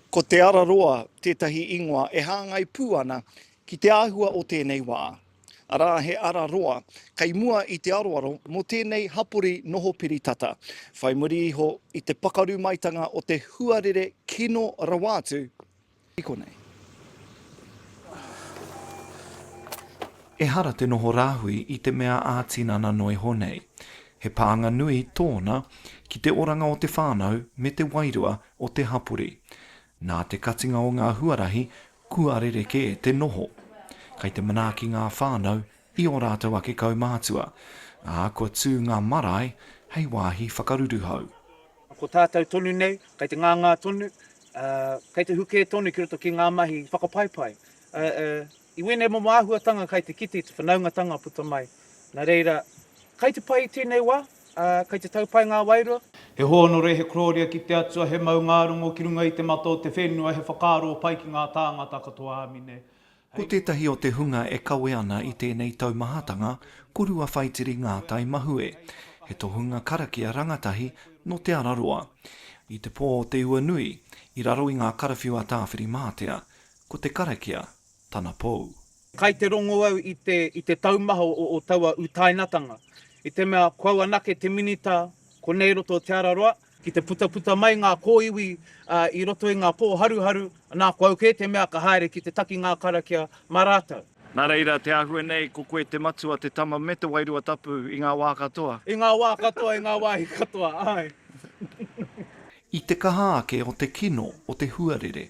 Ko Te Araroa tētahi ingoa e hāngai pū ana ki te āhua o tēnei wā, arā he ara roa kei mua i te aroaro mō tēnei hapori noho piri tata, whai muri iho i te pakaru maitanga o te huarere kino rawa atu i konei. Ehara te noho rāhui i te mea ā-tinana noa iho nei. He pānga nui tōna ki te oranga o te whānau me te wairua o te hapori. Nā te katinga o ngā huarahi kua rerekē te noho. Kei te manaaki ngā whānau i ō rātou ake kaumātua, ā, kua tū ngā marae hei wāhi whakaruruhau. Ko tātou tonu nei, kei te ngāngā tonu, ā, kei te hukē tonu ki roto ki ngā mahi whakapaipai, ā, ā, I wēnei momo āhuatanga kai te kite i te whanaungatanga puta mai. Na reira, kai te pai i tēnei wa, a, kai te tau pai ngā wairua. He hōnore, he kororia ki te Atua, he maungārongo ki runga i te mata o te whenua, he whakaaro pai ki ngā tāngata katoa. Āmine. Ko tētahi o te hunga e kawe ana i tēnei taumahatanga ko Ruawhaitiri Ngātai Mahue, he tohunga karakia rangatahi nō Te Araroa. I te pō o Te Uanui, i raro i ngā karawhiu a Tāwhirimātea, Ko te karakia tana pou. Kai te rongo au i te i te taumaha o o taua utainatanga. I te mea ko au anake te minita ko nei roto o Te Ara Roa. Ki te putaputa mai nga koiwi i roto i nga po haruharu, na ko au ke te mea ka haere ki te taki nga karakia ma ratou. Na reira te ahue nei ko koe te matua, te tama me te wairua tapu i nga wa katoa. I nga wa katoa, i nga wahi katoa, ae. I te kaha ake o te kino o te huarere.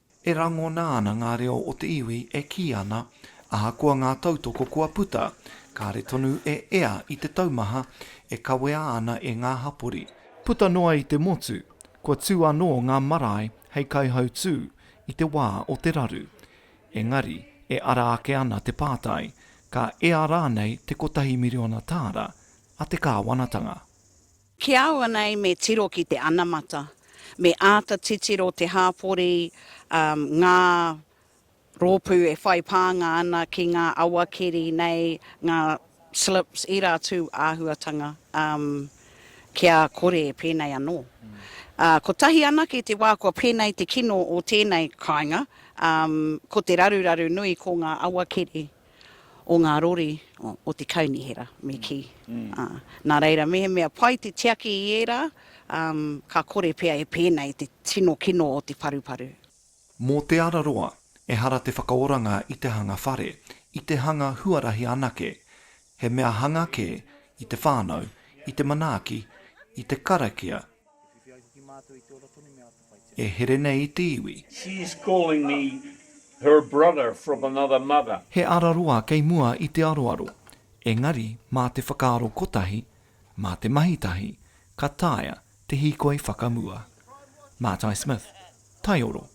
E rangona ana ngā reo o te iwi e kī ana, ahakoa ngā tautoko kua puta, kāre tonu e ea i te taumaha e kawea ana e ngā hapori. Puta noa i te motu, kua tū anō ngā marae hei kaihautū i te wā o te raru. Engari, e ara ake ana te pātai, ka ea rānei te kotahi miriona tāra a te kāwanatanga? Ki a au nei me tiro ki te anamata, me āta titiro te hāpori ngā rōpū e whai pānga ana ki ngā awakeri nei, ngā slips, ērā atu āhuatanga kia kore pēnei anō. Kotahi anake te wā kua pēnei te kino o tēnei kāinga, ko te raruraru nui ko ngā awakeri o ngā rori o te kaunihera, me kī. Nā reira, mehemea pai te tiaki i ērā, ka kore pea e pēnei te tino kino o te paruparu. Mō Te Araroa, ehara te whakaoranga i te hanga whare, i te hanga huarahi anake. He mea hanga kē i te whānau, i te manaaki, i te karakia, E here nei i te iwi. She's calling me her brother from another mother. He araroa kei mua i te aroaro, engari mā te whakaaro kotahi, mā te mahi tahi, ka taea te hīkoi whakamua. Matai Smith, Taioro.